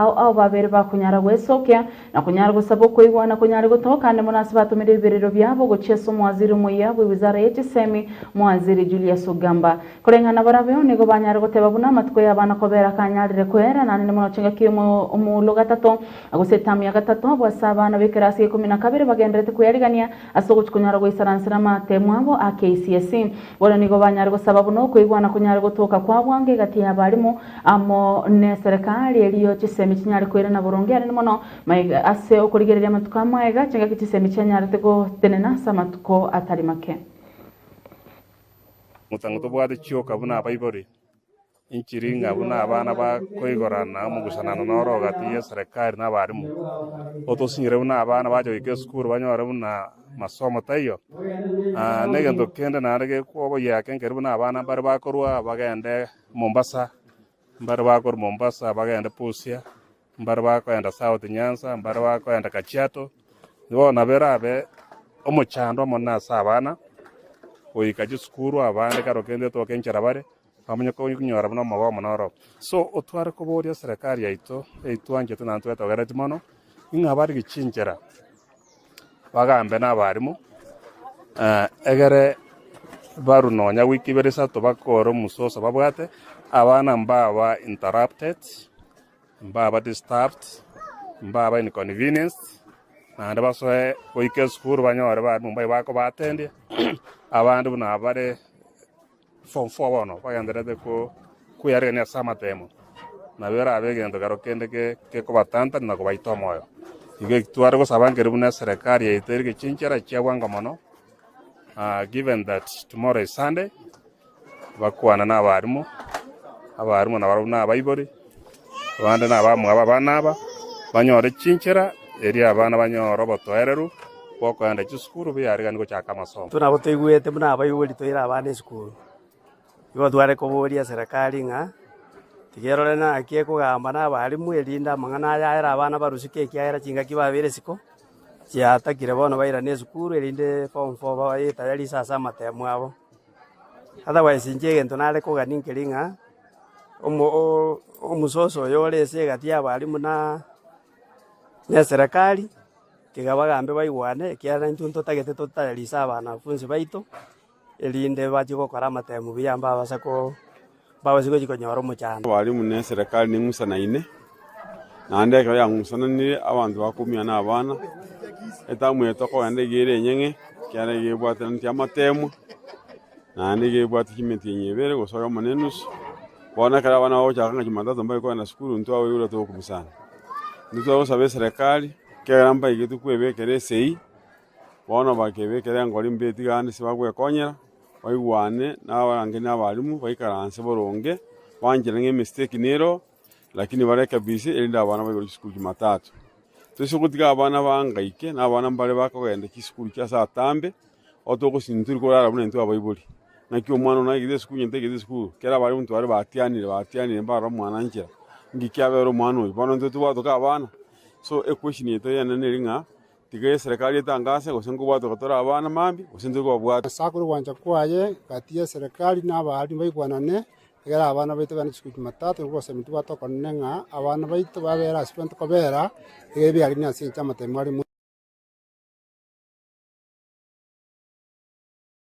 Ao ao babere bakonyara gwesokia, na konyara gosaba okoigwa, na konyare gotoka ande mono ase batomire ebiberero biabo gochia ase omwaziri omoyia bwe wizara ye chisemi, Mwaziri Julius Ogamba. Koreng'ana barabeo, nigo banyare goteba buna amatuko y'abana kobera kanyarire koera, nanene mono chingaki omo omuulo gatato, gose etamu ya gatato, abwo ase abana b'ekerasi y'ekomi na kabere bagenderete kweyarigania ase ogochia konyara goisaransera amaatemu abo a KCSE. Bono nigo banyare gosaba buna okoigwa na konyare gotoka kwa bwango egati y'abarimu, Amo neserekari erio chisemi chinyare koirana boronge aria mono maiga ase okorigereria amatuko amaiga chingaki chisemi chianyarete gotenena ase amatuko atari make. Motango tobwate chioka buna abaibori, enchiri ng'a buna abana ba koigorana mogusanano noro ogati y'eserekari na abarimu. Otosinyire buna abana bache goika esukuru banyore buna masomo taiyo. Negento kende naende gekoboyia kenkeri buna abana mbare bakorua bagende Mombasa, mbare bakorwa Mombasa bagende Busia, mbare bakoenda South Nyanza, mbare bakoenda Kajiado. Bono nabo erabe omochando omonene ase abana goika chisukuru, abande kero kende etoke enchera bare, bamanye konyora buna omogoe omonene oro. So otware koboria serikali yaito, eyio twanchete naende twetogereti mono, ing'a barige chinchera. Bagambe nabarimu, egere barwe nonya week ibere isato bakore omososo babwate, abana mbaba interrupted, mbaba disturbed, mbaba inconvenienced, naende basoe goika esukuru banyore barimu mbabe bakobatendia, abande buna bare. Form four bono bagendererete kweyarerania ase amatemo, nabo erabe egento kero kende gekobatantanera na kobaita omoyo. Igo eki tware gosaba nkere buna eserekari yaito erike chinchera chia bwango mono, given that tomorrow is Sunday, bakwane na abarimu, abarimu nabarobwo na abaibori. Abande nabamwabo abana aba banyore chinchera, erio abana banyore obotoereru bw'okoenda chisukuru biyariganigwe gochaka amasomo. Intwe nabo toigwete buna abaibori toire abana esukuru, igo tware koboria Serekari ng'a tiga erore naki ekogamba nabarimu erinde amang'ana aya aere abana barusike ekiagera chingaki babeire isiko chiatakire bono bairane esukuru erinde form four babaye tayari inse ase amatemo abo. Otherwise inche egento nare kogania nkeri ng'a, omo omososo oyo ore ase egati y'abaarimwa na na eserekari, tiga bagambe baigwane, ekiagera intwe ntotagete totayarise abanafunzi baito, erinde bachie gokora amatemu buya mbabase ko. mbabase gochia konyora omochando. Abarimu ne Eserekari ning'usanaine, naende ekero yang'usananire abanto bakoumia na abana, etamu eye tokogenda iga ere enyeng'e, ekiagera iga ebwateraneti amateemwa, naende iga ebwate chimetienyi ebere gose oyomo ne enusu. Bono ekero abana bagochaka ng'a Jumatatu mbaiyo kogenda sukuru, intwe abaiyo nigo togokubisana. Intwe tware gosaba Eserekari, ekiagera mbaiyo tokwebekera esegi, Bono bakebekera enkori mbe tiga aande tibagwekonyera, baigwane n'abarangeria na abarimu, baikaranse boronge, banchire ng'a emistake nero, lakini barekebise, erinde abana baigwe chisukuru Jumatatu. Toise gotiga abana bangaike, na abana mbare bakogenda chisukuru chia saa tambe, aho togosinda tori korara buna intwe abaibori. Naki omwana one aigete esukuru onye taigete esukuru, kera abarimu intwe bare batianire, batianire mbarora omwana anchera, ng'iki kiabera omwana oyo, bono intwe tibwatoka abana. So equestion yaito eyene neri ng'a. Tiga eserekari etangaase, gose nkobwatwe ko tore abana mambia, gose ntari kobabwata. Ase akore ogwancha kwaye gati y'eserekari na abaari mbaigwanane, egere abana baito baane chiko chimatato, nabo bose baminto bwate okonene ng'a abana baito babere ase baminto kobera, egere biarenge ase enchera y'amatemi are.